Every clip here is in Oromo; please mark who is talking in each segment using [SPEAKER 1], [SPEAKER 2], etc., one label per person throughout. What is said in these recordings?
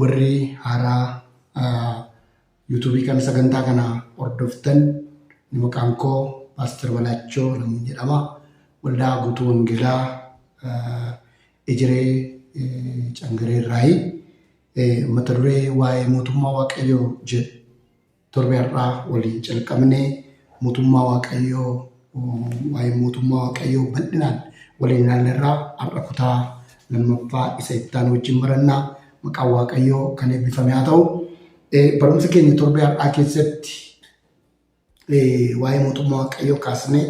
[SPEAKER 1] Warri haaraa YouTube kan sagantaa kana hordoftan ni maqaan koo Paaster Balaachoo Lamuun jedhama. Waldaa Guutuu Wangeelaa Ejeree Cangaree irraayi. Mata duree waa'ee mootummaa Waaqayyoo jedhu Torbee har'aa waliin calqabne mootummaa Waaqayyoo waa'ee mootummaa Waaqayyoo bal'inaan waliin ilaallerraa har'a kutaa lammaffaa isa ittaan wajjin baranna maqaan Waaqayyoo kan eebbifame haa ta'u. Barumsa keenya torbee har'aa keessatti waa'ee mootummaa Waaqayyoo kaasnee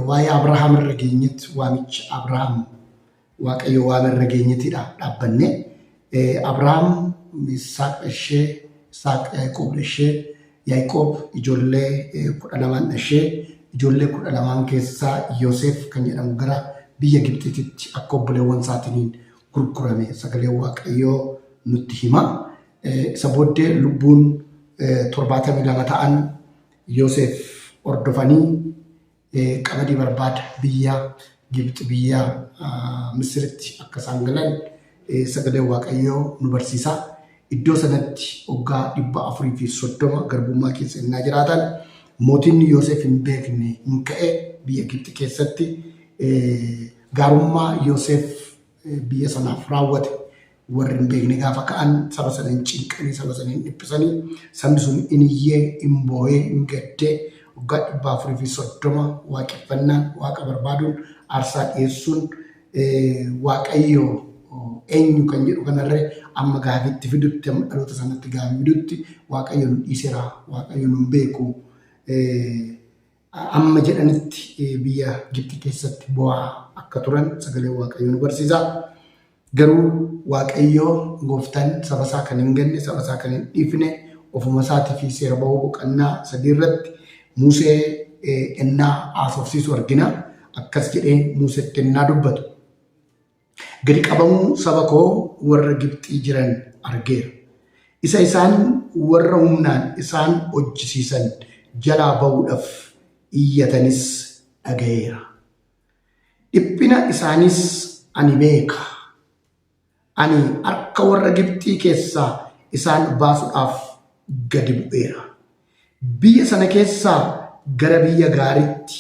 [SPEAKER 1] waa'ee Abrahaam irra geenyetti waamicha Abrahaam Waaqayyo waan irra geenyetidha dhaabbanne. Abrahaam Isaaq dhashee, Isaaq Yaaqoob dhashee, Yaaqoob ijoollee kudha lamaan dhashee, ijoollee kudha lamaan keessaa Yooseef kan jedhamu gara biyya Gibxiititti akka obboleewwan isaatiniin gurgurame sagalee Waaqayyoo nutti hima. Isa booddee lubbuun torbaatamii lama ta'an Yooseef hordofanii qamadii barbaada biyya Gibxi biyya Misiritti akka isaan galan sagaleen Waaqayyoo nu barsiisa. Iddoo sanatti waggaa dhibba afurii fi soddoma garbummaa keessa innaa jiraatan mootiin Yoosef hin beekne hin ka'e biyya Gibxi keessatti gaarummaa Yoosef biyya sanaaf raawwate warri hin beekne gaafa ka'an saba sana hin cinqanii saba sana hin dhiphisanii sabni sun hin iyyee hin booyee hin gaddee waggaa dhibba afurii fi soddoma waaqeffannaan waaqa barbaaduun aarsaa dhiyeessuun waaqayyo eenyu kan jedhu kanarree amma gaafiitti fidutti amma dhaloota sanatti gaafii fidutti waaqayyo nu dhiisera waaqayyo nu beeku amma jedhanitti biyya Gibxi keessatti bo'aa akka turan sagalee Waaqayyoo nu barsiisa. Garuu Waaqayyoo gooftaan saba isaa kan hin ganne, saba isaa kan hin dhiifne ofuma isaatii fi seera ba'uu boqonnaa sadii irratti Musee ennaa haasofsiisu argina. Akkas jedhee Museetti ennaa dubbatu. Gadi qabamuu saba koo warra Gibxii jiran argeera, isa isaan warra humnaan isaan hojjisiisan jalaa ba'uudhaaf iyyatanis dhaga'eera. Dhiphina isaaniis ani beeka. Ani harka warra Gibxii keessaa isaan baasuudhaaf gadi bu'eera. Biyya sana keessaa gara biyya gaariitti,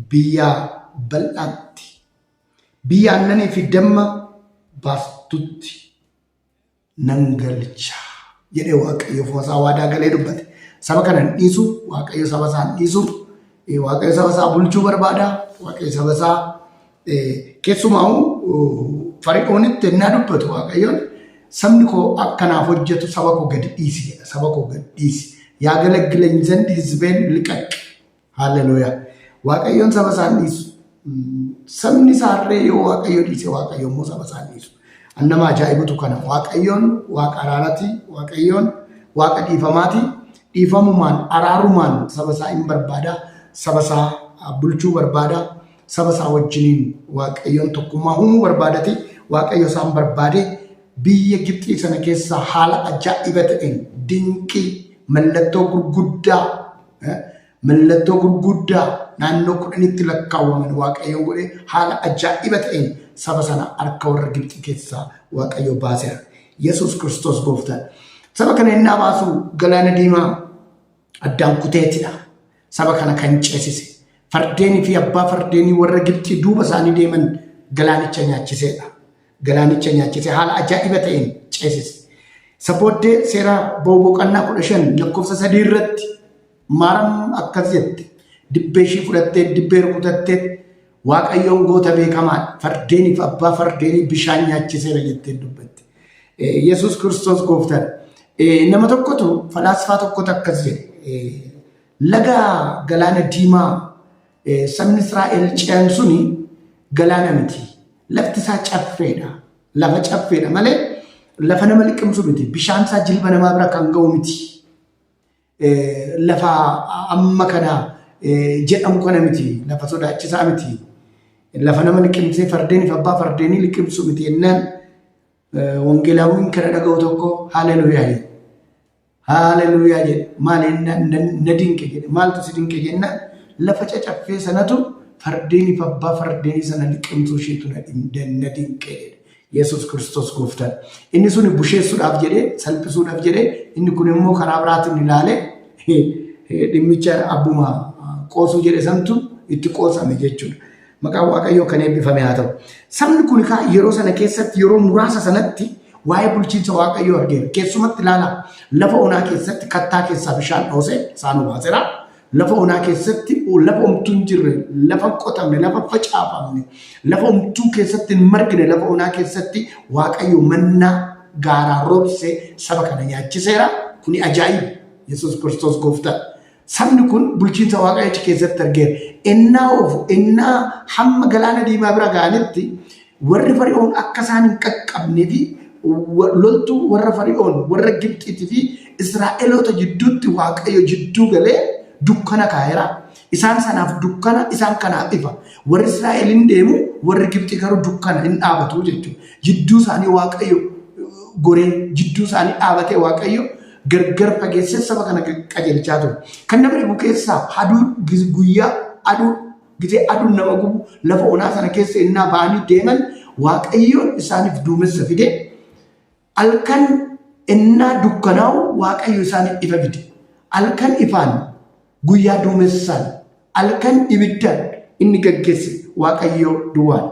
[SPEAKER 1] biyya bal'aatti Biyya aannanii fi damma baastutti nan galcha jedhee Waaqayyo ofuma isaa waadaa galee dubbate. Saba kana hin dhiisu, Waaqayyo saba isaa hin dhiisu. Eh, Waaqayyo saba isaa bulchuu barbaada. Waaqayyo saba isaa eh, keessumaa fari'oonitti ennaa dubbatu Waaqayyoon sabni koo akka naaf hojjetu saba koo gadi dhiisi jedha. Saba koo gadi dhiisi. Yaa galaggilan zandi hizbeen liqaqi. Haalleluuyaa. Waaqayyoon saba isaa hin dhiisu. Mm, Sabni isaa irree yoo Waaqayyo dhiise Waaqayyo immoo saba isaa hin dhiisu. An nama ajaa'ibutu kana. Waaqayyoon waaqa araaraati. Waaqayyoon waaqa dhiifamaati. Dhiifamumaan, araarumaan saba isaa hin barbaada. Saba isaa ah, bulchuu barbaada. Saba isaa wajjiniin Waaqayyoon tokkummaa uumuu barbaadati. Waaqayyo isaan barbaade biyya Gibxii sana keessaa haala ajaa'iba ta'een dinqii mallattoo gurguddaa Mallattoo gurguddaa naannoo kudhanitti lakkaawwaman Waaqayyoon godhe haala ajaa'iba ta'een saba sana harka warra Gibxii keessaa Waaqayyo baaseera. Yesuus Kiristoos gooftaan. Saba kana innaa baasu galaana diimaa addaan kuteetidha. Saba kana kan ceesise. Fardeenii fi abbaa fardeenii warra Gibxii duuba isaanii deeman galaanicha nyaachiseedha. galaanicha nyaachise haala ajaa'iba ta'een ceesise. Isa booddee seera ba'uu boqonnaa kudha shan lakkoofsa sadii irratti maaram akkas jette dibbee ishii fudhattee dibbee rukutattee waaqayyoon goota beekamaa fardeeniif abbaa fardeenii bishaan nyaachiseera jettee dubbatte. Yesuus kiristoos gooftaan nama tokkotu falaasfaa tokkotu akkas jedhe laga galaana diimaa Sabni Israa'el ce'an suni galaana miti. Lafti isaa caffeedha. Lafa caffeedha malee lafa nama liqimsu miti. Bishaan isaa jilba namaa bira kan ga'u miti. Lafa amma kana jedhamu kana miti. Lafa sodaachisaa miti. Lafa nama liqimsee fardeenif abbaa fardeenii liqimsu miti jennaan wangeelaawwiin kana dhaga'u tokko haleluyaa jedhu. Haaleluuyaa jedhe. Maal na, na, na dinqe jedhe. Maaltu si dinqe jenna? Lafa cacaffee sanatu fardeeniif abbaa fardeenii sana liqimsuu isheetu na, na dinqe jedhe. Yesus Kiristoos gooftaan. Inni suni busheessuudhaaf jedhee, salphisuudhaaf jedhee, inni kun immoo karaa biraatiin ilaalee dhimmicha abbuma qoosuu jedhe santu itti qoosame jechuudha. Maqaan Waaqayyoo kan eebbifame haa ta'u. Sabni kun kaa yeroo sana keessatti yeroo muraasa sanatti waa'ee bulchiinsa Waaqayyoo argeera. Keessumatti ilaala lafa onaa keessatti kattaa keessaa bishaan dhoose isaan obaaseera. Lafa onaa keessatti lafa omtuu hin jirre, lafa hin qotamne, lafa hin facaafamne, lafa omtuu keessatti hin margine, lafa onaa keessatti Waaqayyo mannaa gaaraa roobsee saba kana nyaachiseera. Kuni ajaa'iba! Yesuus Kiristoos gooftaa. Sabni kun bulchiinsa Waaqayyo achi keessatti argeera. Ennaa oofu, ennaa hamma galaana diimaa bira ga'anitti warri Fari'oon akka isaan hin qaqqabnee fi wa- loltuu warra Fari'oon, warra Gibxiitii fi Israa'eloota jidduutti Waaqayyo jidduu galee dukkana kaa'eera. Isaan sanaaf dukkana, isaan kanaaf ifa. Warri Israa'el hin deemu, warri Gibxii garuu dukkana hin dhaabatu jechuudha. Jidduu isaanii Waaqayyo goree, jidduu isaanii dhaabatee Waaqayyo gargar fageessee saba kana qajeelchaa ture. Kan nama dhibu keessaa aduu guyyaa aduu gitee aduun nama gubu lafa onaa sana keessa innaa ba'anii deeman waaqayyoon isaaniif duumessa fide halkan innaa dukkanaa'u waaqayyo isaaniif ifa fide halkan ifaan guyyaa duumessaan halkan ibiddaan inni gaggeesse waaqayyoo duwwaadha.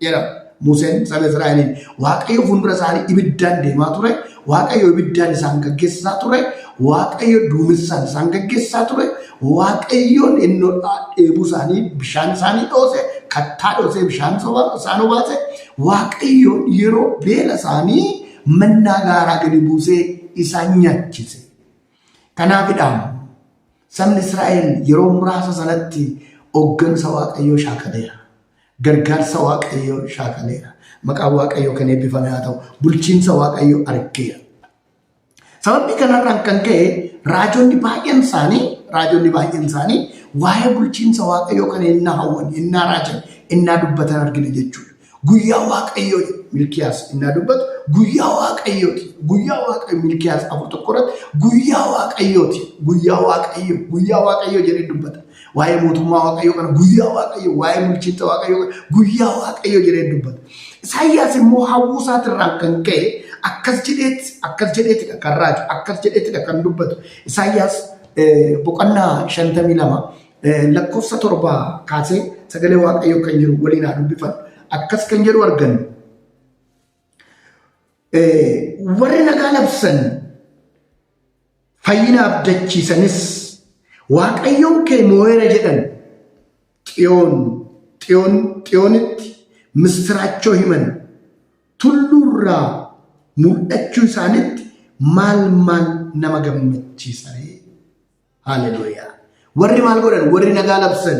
[SPEAKER 1] jedhama. Museen saba Israa'eliin Waaqayyo fuuldura isaanii ibiddaan deemaa ture, Waaqayyo ibiddaan isaan gaggeessaa ture, Waaqayyo duumessaan isaan gaggeessaa ture, Waaqayyoon innoodhaa dheebuu isaanii bishaan isaanii dhoose, kattaa dhoosee bishaan soba- isaan obaase, Waaqayyoon yeroo beela isaanii mannaa gaaraa gadi buusee isaan nyaachise. Kanaafidhaam sabni Israa'el yeroo muraasa sanatti hooggansa Waaqayyoo shaakaleera. Gargaarsa Waaqayyoon shaakaleera. Maqaan Waaqayyoo kan eebbifame haa ta'u. Bulchiinsa Waaqayyoo argeera. Sababii kanarraan kan ka'e raajonni baay'een isaanii raajonni baay'een isaanii waa'ee bulchiinsa Waaqayyoo kana innaa hawwan, innaa raajan, innaa dubbatan argina jechuudha. Guyyaa Waaqayyooti Milkiyaas innaa dubbatu guyyaa Waaqayyooti. Guyyaa Waaqayyoo Milkiyaas afur tokko irratti guyyaa Waaqayyooti. Guyyaa Waaqayyoo guyyaa Waaqayyoo jedhee dubbata. Waa'ee mootummaa Waaqayyoo kana guyyaa Waaqayyoo, waa'ee bulchiinsa Waaqayyoo kana guyyaa Waaqayyoo jedhee dubbata. Isaayyaas immoo hawwuu isaatirraan kan ka'e akkas jedheetti akkas jedheettidha kan raaju, akkas jedheettidha kan dubbatu. Isaayyaas eh, boqonnaa 52 eh, lakkoofsa torba kaasee sagalee Waaqayyoo kan jiru waliin haa dubbifan. Akkas kan jedhu arganna. Eh, Warri nagaa labsan Fayyina abdachiisanis Waaqayyoon kee moo'eera jedhan. Xiyoon, Xiyoon, Xiyoonitti missiraachoo himan. Tulluurraa mul'achuu isaanitti maal maal nama gammachiisa ree? Haaleluuyaa! Warri maal godhan? Warri nagaa labsan,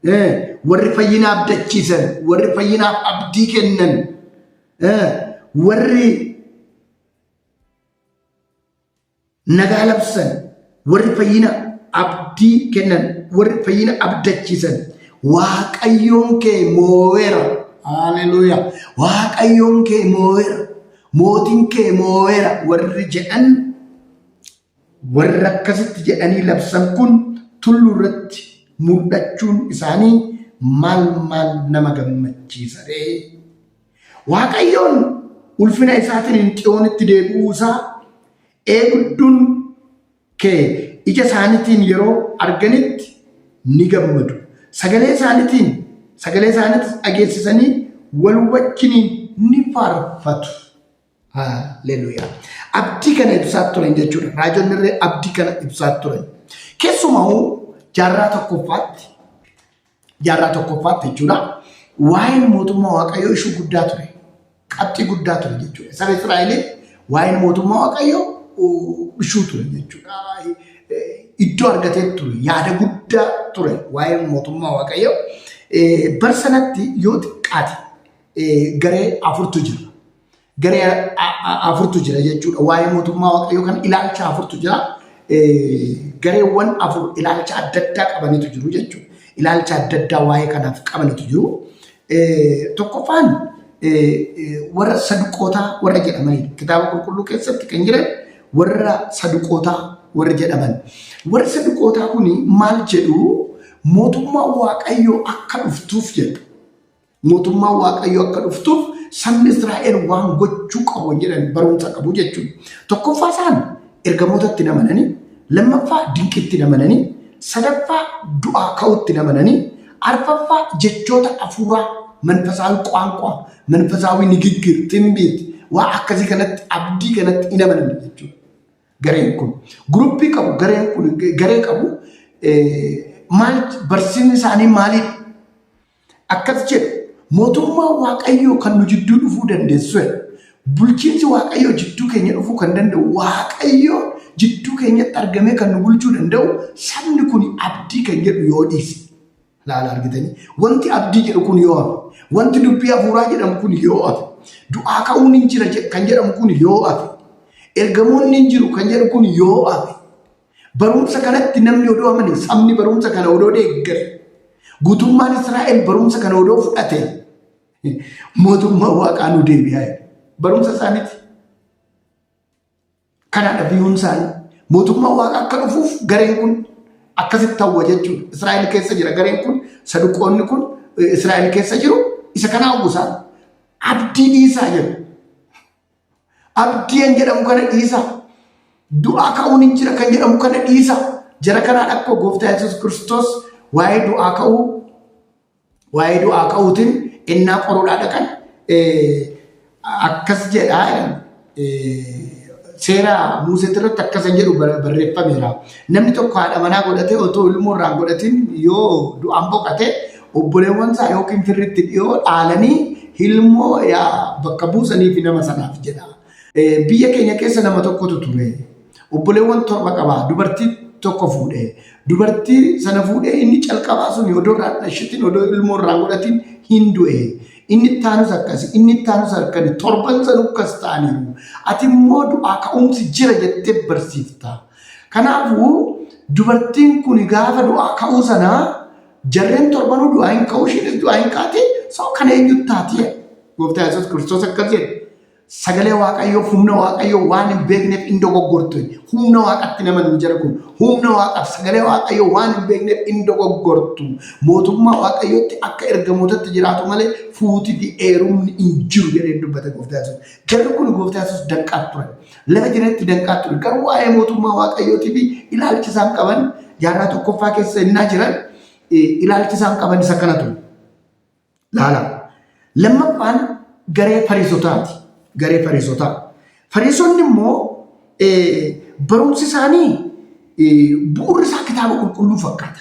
[SPEAKER 1] eh, warri fayyina abdachiisan, warri fayyinaaf abdii kennan, eh, warri nagaa labsan, warri fayyina abdii kennan, warri fayyina abdachiisan, Waaqayyoon kee moo'eera. Haleluuyaa! Waaqayyoon kee moo'eera. Mootiin kee moo'eera warri jedhan warra akkasitti jedhanii labsan kun tulluu irratti mul'achuun isaanii maal maal nama gammachiisa ree? Waaqayyoon ulfina isaatiin Xiyoonitti deebi'uu isaa eegudduun kee ija isaaniitiin yeroo arganitti ni gammadu. Sagalee isaaniitiin sagalee isaaniitis dhageessisanii wal wajjiniin ni faarfatu. Haleluyaa. Abdii kana ibsaa turan jechuudha. Raajonni illee abdii kana ibsaa turan. Keessumaa'uu jaarraa tokkoffaatti jaarraa tokkoffaatti jechuudha. Waa'een mootummaa Waaqayyoo ishuu guddaa ture. Qabxii guddaa ture jechuudha. Saba Israa'eliif waa'een mootummaa Waaqayyoo uu, ishuu ture jechuudha. Eh, Iddoo argatee ture. Yaada guddaa ture waa'een mootummaa Waaqayyoo. Eh, Bara sanatti yoo xiqqaate garee afurtu jira. Garee afurtu jira jechuudha. Waa'ee mootummaa waaqayyoo kan ilaalcha afurtu jira. Gareewwan afur ilaalcha adda addaa qabanitu jiru jechuudha. Ilaalcha adda addaa waa'ee kanaaf qabanitu jiru. Tokkoffaan warra saduqootaa warra jedhamanidha. Kitaaba qulqulluu keessatti kan jiran warra saduqootaa warra jedhaman. Warri saduqootaa kun maal jedhu mootummaa waaqayyoo akka dhuftuuf jedhu. Mootummaan Waaqayyoo akka dhuftuuf sabni Israa'el waan gochuu qabu jedhan barumsa qabu jechuudha. Tokkoffaa isaan ergamootatti namananii, lammaffaa dinqiitti namananii, sadaffaa du'aa ka'utti namananii, arfaffaa jechoota afuuraa manfasaawi qaanqaa, manfasaawi nigiggir, timbiit waa akkasii kanatti abdii kanatti hin amanan jechuudha. Gareen kun guruppii qabu gareen kun garee qabu maal barsiisni isaanii maaliidha? Akkas jedhe, Mootummaan Waaqayyoo kan nu jidduu dhufuu dandeessu jedha. Bulchiinsi Waaqayyoo jidduu keenya dhufuu kan danda'u Waaqayyo jidduu keenyatti argamee kan nu bulchuu danda'u sabni kun abdii kan jedhu yoo dhiise. Laala argitanii wanti abdii jedhu kun yoo hafe, wanti dubbii hafuuraa jedhamu kun yoo hafe, du'aa ka'uun hin jira jedh- kan jedhamu kun yoo hafe, ergamoonni hin jiru kan jedhu kun yoo hafe, Barumsa kanatti namni odoo amane, sabni barumsa kana odoo deeggare, guutummaan Israa'el barumsa kana odoo fudhate, mootummaa waaqaa nu deebi'aa jedhe. Barumsa isaaniiti. Kanaadha biyyoon isaanii. Mootummaa waaqaa akka dhufuuf gareen kun akkasitti hawwa jechuudha. Israa'el keessa jira gareen kun, saduqoonni kun eh, Israa'el keessa jiru, isa kana hawwisaa. Abdii dhiisaa jedhu. Abdiin jedhamu kana dhiisa. Du'aa ka'uun hin jira kan jedhamu kana dhiisa. Jara kanaan akkuma gooftaa Yesuus Kiristoos waa'ee du'aa ka'uu waa'ee du'aa ka'uutiin innaa qoruudhaa dhaqan akkas jedha seera Muuseetti irratti akkasa jedhu barreeffameera. Namni tokko haadha manaa godhatee otoo ilmoo irraa godhatiin yoo du'aan boqate Obboleewwan isaa yookiin firritti dhiyoo dhaalanii ilmoo yaa bakka buusaniifi nama sanaaf jedha. Eh, Biyya keenya keessa nama tokkotu ture. Obboleewwan torba qaba. Dubartii tokko fuudhe. Dubartii sana fuudhee inni calqabaa sun odoo irraa dhashitin odoo ilmoo irraa godhatin hin du'e. Inni itti aanus akkasi, inni itti aanus harkani torban san ukkas ta'aniiru. Ati immoo du'aa ka'umsi jira jettee barsiifta. Kanaafuu dubartiin kun gaafa du'aa ka'uu sana Jarreen torbanuu du'aa hin ka'uu ishiinis du'aa hin kaatee soo kan eenyu taatee? Gooftaa Yesuus Kiristoos akkas jedhe. Sagalee Waaqayyoo, humna Waaqayyoo waan hin beekneef hin dogoggortu. Humna Waaqatti nama hin jedhu kun. Humna Waaqaaf sagalee Waaqayyoo waan hin beekneef hin dogoggortu. Mootummaa Waaqayyootti akka ergamootatti jiraatu malee fuuti fi eerumni hin jiru jedhee dubbate Gooftaa Yesuus. Jarri kun Gooftaa Yesuus danqaa turan. Lafa jiranitti danqaa ture. Garuu waa'ee mootummaa Waaqayyootii fi ilaalcha isaan qaban jaarraa tokkoffaa keessa innaa jiran eh, ilaalchi isaan qaban isa kana ture. Laala. Lammaffaan garee fariisotaati. Garee fariisotaa. Fariisonni immoo eh, barumsi isaanii eh, bu'uurri isaa kitaaba qulqulluu fakkaata.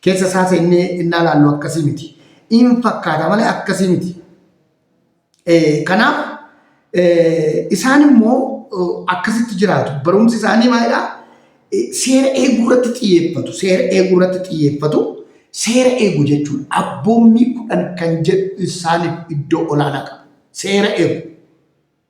[SPEAKER 1] Keessa isaa seennee innaa ilaallu akkasii miti. In fakkaata malee akkasii miti. Eh, Kanaaf eh, isaan immoo eh, akkasitti jiraatu. Barumsi isaanii maalidha? Eh, Seera eeguu irratti xiyyeeffatu. Seera eeguu irratti xiyyeeffatu. Seera eegu jechuun abboommii kudhan kan jedhu isaaniif iddoo olaanaa qaba. Seera eegu.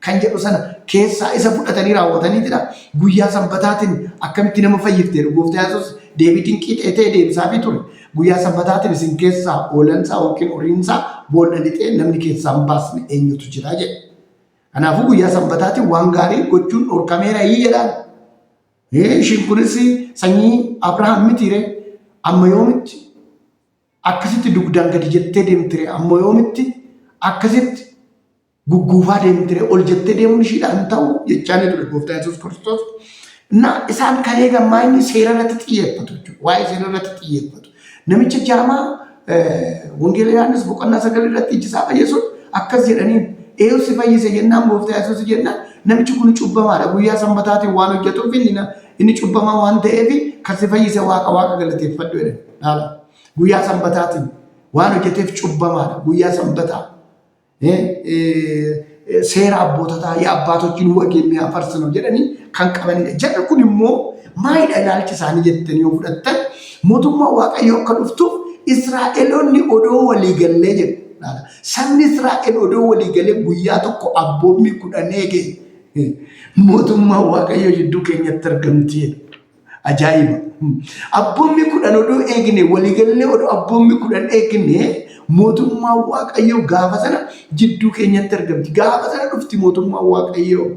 [SPEAKER 1] kan jedhu sana keessaa isa fudhatanii raawwataniitidha. Guyyaa sanbataatiin akkamitti nama fayyifte jedhu gooftaa Yesuus deebii dinqii ta'e ta'e deebisaafii ture. Guyyaa sanbataatiin isin keessaa hoolansaa yookiin horiinsaa boolla lixee namni keessaa hin baasne eenyutu jira jedhe. Kanaafuu guyyaa sanbataatiin waan gaarii gochuun dhorkameera ii jedhaan. Ee, Ishiin kunis sanyii Abrahaam mitiire amma yoomitti akkasitti dugdaan gadi jettee deemtire amma yoomitti akkasitti gugguufaa deemtire ol jettee deemuun ishiidha hin ta'u jechaa ni ture gooftaa Yesuus Kiristoos. Na isaan kan eegan maa inni seera irratti xiyyeeffatu jechuudha. Waa'ee seera irratti xiyyeeffatu. Namicha jaamaa Wangeela Yohaannis boqonnaa sagal irratti iji isaa fayyisuun akkas jedhaniin eeyyu si fayyise jennaan gooftaa Yesuus jennaan namichi kun cubbamaadha guyyaa sanbataatiin waan hojjetuuf inni na- inni cubbamaa waan ta'eef kan si fayyise waaqa waaqa galateeffadhu jedhan. Laala. Guyyaa sanbataatiin waan hojjeteef cubbamaadha guyyaa sanbataa. seera abboototaa yaa abbaatochi nu wageenne haa farsinu jedhanii kan qabanidha. Jarri kun immoo maalidha ilaalchi isaanii jettanii yoo fudhattan mootummaa Waaqayyoo akka dhuftuuf Israa'eloonni odoo walii gallee jedhu. Laala, Sabni Israa'el odoo walii galee guyyaa tokko abboommii kudhan eege mootummaa Waaqayyoo jidduu keenyatti argamti jedhu. Ajaa'iba! Abboommii kudhan odoo eegne waliigallee odoo abboommii kudhan eegne mootummaa Waaqayyoo gaafa sana jidduu keenyatti argamti. Gaafa sana dhufti mootummaa Waaqayyoo.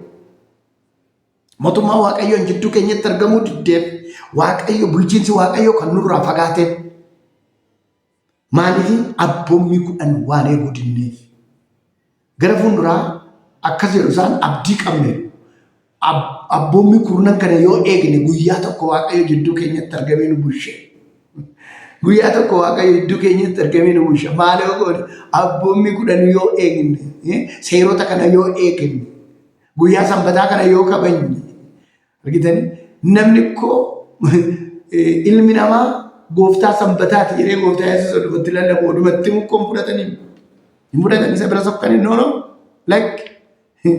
[SPEAKER 1] Mootummaa Waaqayyoon jidduu keenyatti argamuu diddeef Waaqayyo bulchiinsi Waaqayyoo kan nurraa fagaateef Maaliif abboommii kudhan waan eeguu dinneef? Gara fuulduraa akkas jedhu isaan abdii qabna jedhu. Abboommii kurnan kana yoo eegne guyyaa tokko Waaqayyo jidduu keenyatti argamee nu bulcha. Guyyaa tokko Waaqayyo jidduu keenyatti argamee nu bulcha. Maal yoo goone abboommii kudhan yoo eegne seerota kana yoo eegne guyyaa sanbataa kana yoo kabajne Argitanii? Namni koo ilmi namaa gooftaa sanbataati jedhee gooftaa Yesuus odumatti lallabu odumatti immoo koo hin fudhatanii hin fudhatan isa bira sokkanii no no lakki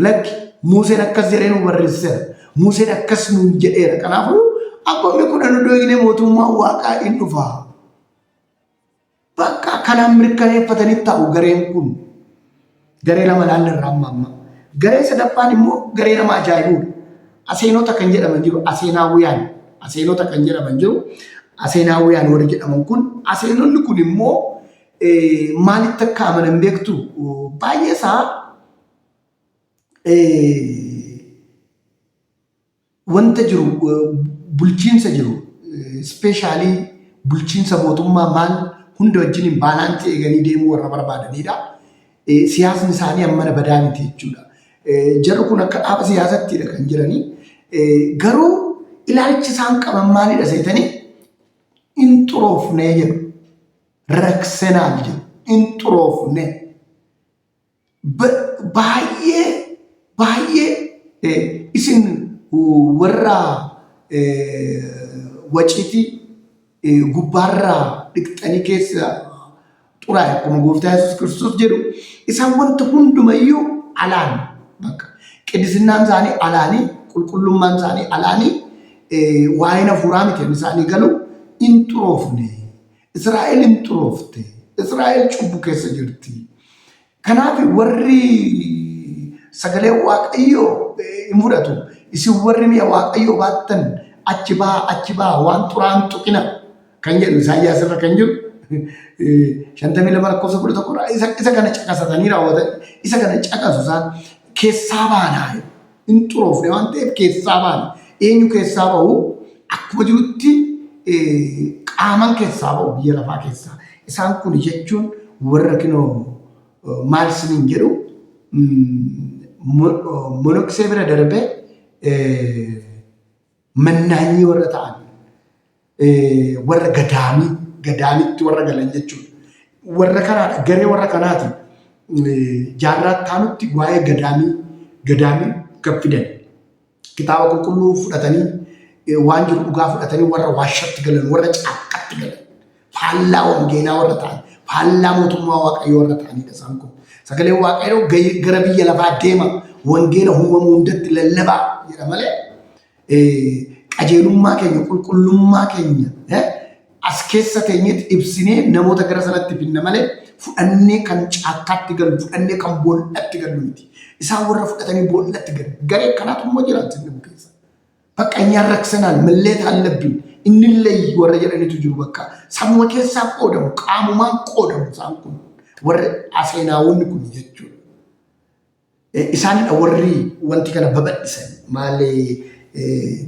[SPEAKER 1] lakki Museen akkas jedhee nu barreesseera Museen akkas nu jedheera kanaafuu abboonni kudhan iddoo eegnee mootummaa waaqaa in dhufaa. Bakka akkanaan mirkaneeffatanii taa'u gareen kun. Garee lama laalla irraa amma amma. Gareen sadaffaan immoo garee nama ajaa'ibuudha. Aseenota kan jedhaman jiru aseenaawiyaan. Aseenota kan jedhaman jiru aseenaawiyaan warri jedhaman kun aseenonni kun immoo maalitti akka amanan beektu baay'ee isaa Wanta jiru bulchiinsa jiru ispeeshaalii bulchiinsa mootummaa maal hunda wajjiniin baalaantii eeganii deemuu warra barbaadaniidha. Eh, Siyaasni isaanii ammana badaa miti jechuudha. Eh, Jarri kun akka dhaaba siyaasattiidha kan jiranii. Eh, Garuu ilaalchi isaan qaban maalidha seetanii hin xuroofnee jedhu. Raksenaal jedhu. Hin xuroofnee. baay'ee baay'ee isin warra waciitii gubbaarraa dhiqxanii keessa xuraa'e akkuma gooftaa Yesuus Kiristoos jedhu isaan wanta hundumayyuu alaan bakka qidisinnaan isaanii alaanii qulqullummaan isaanii alaanii waa'een hafuuraa miti isaanii galu hin xuroofne. Israa'el hin xuroofte. Israa'el cubbu keessa jirti. Kanaaf warri sagalee Waaqayyoo eh, hin fudhatu. Isin warri mi'a Waaqayyoo baattan achi baha achi baha waan xuraan tuqina kan jedhu Isaayyaas irra kan jiru eh, 52 lakkoofsa 11 irraa isa, isa kana caqasatanii raawwatan isa kana caqasu isaan keessaa baanaa jedhu. hin xuroofne waan ta'eef keessaa baana. Eenyu keessaa ba'u akkuma jirutti qaaman keessaa ba'u biyya lafaa keessaa. Isaan kun jechuun warra kinoo maal siniin jedhu monoksee bira darbee Mannaanyii warra ta'an, warra gadaamii, gadaamitti warra galan jechuudha. Warra kanaadha, garee warra kanaati. Jaarraa itti aanutti waa'ee gadaamii, gadaamii kan fidan. Kitaaba qulqulluu fudhatanii, waan jiru dhugaa fudhatanii warra waashatti galan, warra caakkatti galan. faallaa wangeelaa warra ta'an, faallaa mootummaa Waaqayyoo warra ta'aniidha isaan kun. Sagaleen Waaqayyoo gay- gara biyya lafaa deema, wangeela uumamuu hundatti lallabaa jedha malee eh, qajeelummaa keenya, qulqullummaa keenya eh, as keessa teenyetti ibsinee namoota gara sanatti finna malee fudhannee kan caakkaatti galu, fudhannee kan boollatti galu miti. Isaan warra fudhatanii boollatti galu. Garee kanaatu immoo jiraachisa. Fakkeenyaa raksanaan mallee taallabbiin innillee warra jedhanitu jiru bakka sabuma keessaa qoodamu qaamumaan qoodamu isaan kun warri aseenaawonni kun jechuudha. Isaanidha warri wanti kana babal'isan maalee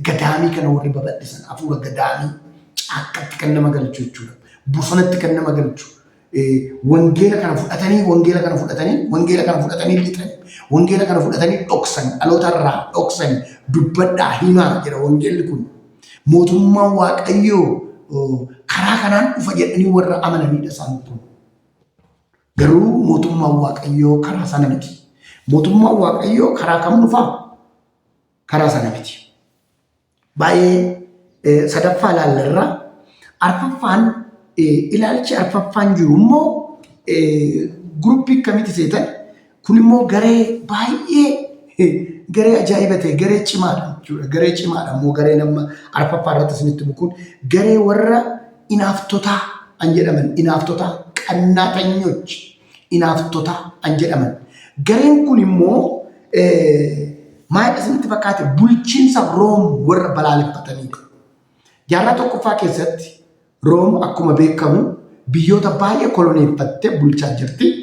[SPEAKER 1] gadaamii kana warri babal'isan hafuura gadaamii caakkatti kan nama galchu jechuudha. Bosonatti kan nama galchu wangeela kana fudhatanii wangeela kana fudhatanii wangeela kana fudhatanii lixan wangeela kana fudhatanii dhoksan dhalootarraa dhoksan dubbadhaa himaa jedha wangeelli kun mootummaan waaqayyoo karaa kanaan dhufa jedhanii warra amananiidha isaan kun garuu mootummaan waaqayyoo karaa sana miti mootummaan waaqayyoo karaa kam dhufaa karaa sana miti baay'ee sadaffaa ilaallerra. Arfaffaan ilaalchi arfaffaan jiru immoo guruppii akkamitti seetan kun immoo garee baay'ee garee ajaa'iba ta'e garee cimaadha jechuudha. Garee cimaadha immoo garee nama arfaffaa irratti isinitti bukuun garee warra inaaftotaa an jedhaman inaaftotaa qannaatanyochi inaaftota kan jedhaman. Gareen kun immoo maal isinitti fakkaate bulchiinsa Room warra balaaleffataniidha. Jaarraa tokkoffaa keessatti Room akkuma beekamu biyyoota baay'ee koloneeffattee bulchaa jirti.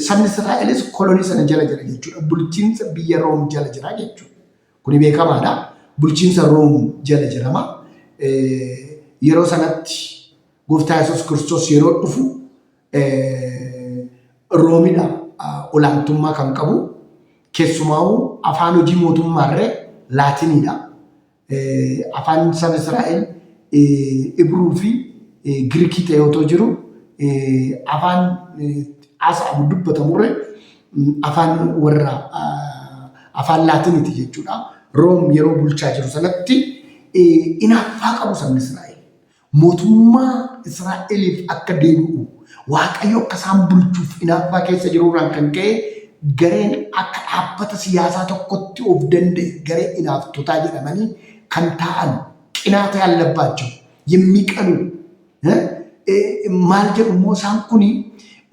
[SPEAKER 1] Sabni Israa'elis kolonii sana jala jira jechuudha. Bulchiinsa biyya Room jala jira jechuudha. Kuni beekamaadha. Bulchiinsa Room jala jirama. Yeroo sanatti gooftaa Yesuus Kiristoos yeroo dhufu roomidha olaantummaa kan qabu keessumaa'uu afaan hojii mootummaarree laatiniidha. Afaan saba Israa'el Ibruu fi Girikii ta'ee otoo jiru afaan haasa'amu dubbatamurre afaan warra afaan laatiniiti jechuudha. Room yeroo bulchaa jiru sanatti inaaffaa qabu sabni Israa'el. Mootummaa Israa'eliif akka deebi'u, Waaqayyo akka isaan bulchuuf inaaffaa keessa jiruu irraan kan ka'e gareen akka dhaabbata siyaasaa tokkotti of danda'e garee inaaftotaa jedhamanii kan taa'an qinaate allabbaachoo, yemmiqanu, maal jedhu immoo isaan kuni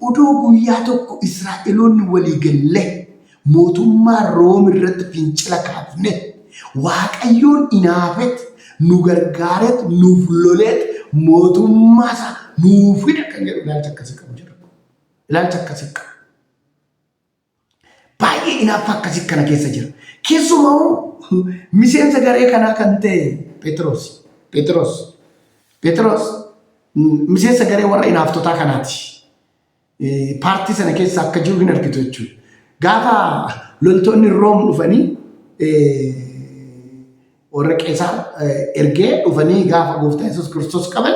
[SPEAKER 1] odoo guyyaa tokko Israa'eloonni walii galle Mootummaa Room irratti fincila kaafne, Waaqayyoon inaafet, nu gargaaret, nuuf loleet mootummaa isaa nuuf fida kan jedhu ilaalcha akkasii qabu jira. Ilaalcha akkasii qabu. Baay'ee inaaffa akkasii kana keessa jira. Keessumaa miseensa garee kanaa kan ta'e Phexros. Phexros. Phexros miseensa garee warra inaaftotaa kanaati. paartii sana keessa akka jiru hin argitu jechuudha. Gaafa loltoonni Room dhufanii warra qeesaa ergee dhufanii gaafa gooftaa Yesuus Kiristoos qaban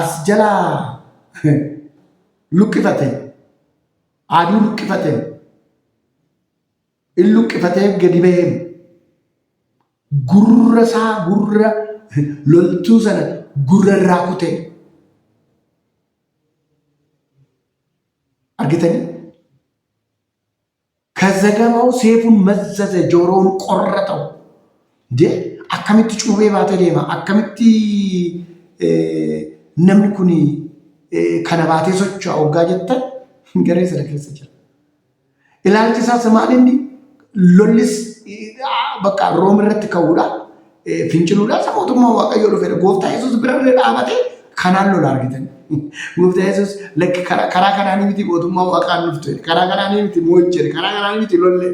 [SPEAKER 1] as jalaa luqqifate aduu luqqifate in luqqifatee gadi baheen gurra isaa gurra loltuu sana gurra irraa kutee Argitanii? Kazzagamaw seefuun mazzaze jooroon qorra ta'u. Dee akkamitti cuubee baatee deema? Akkamitti namni kun kana baatee socho'a hoggaa jettan garee sana keessa jira. Ilaalchi isaas maal inni lollis bakka room irratti ka'uudha. Finciluudha isa mootummaa waaqayyoo dhufeera. Gooftaa Yesuus bira illee dhaabatee kanaan lola argitan. Gooftaa Yesuus lakki karaa kanaanii miti mootummaa waaqaan dhufte. Karaa kanaanii miti moo'icha. Karaa kanaanii miti lollee.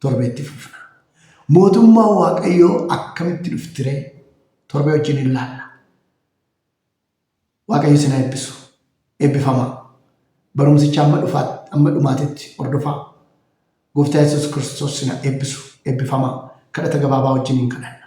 [SPEAKER 1] Torbee itti fufna. Mootummaan Waaqayyoo akkamitti dhuftiree? Torbee wajjin hin laalla. Waaqayyo isin haa eebbisu. Eebbifamaa. Barumsicha amma dhufaa amma dhumaatitti hordofaa. Gooftaa Yesuus Kiristoos isin haa eebbisu. Eebbifamaa. Kadhata gabaabaa wajjin hin kadhanna.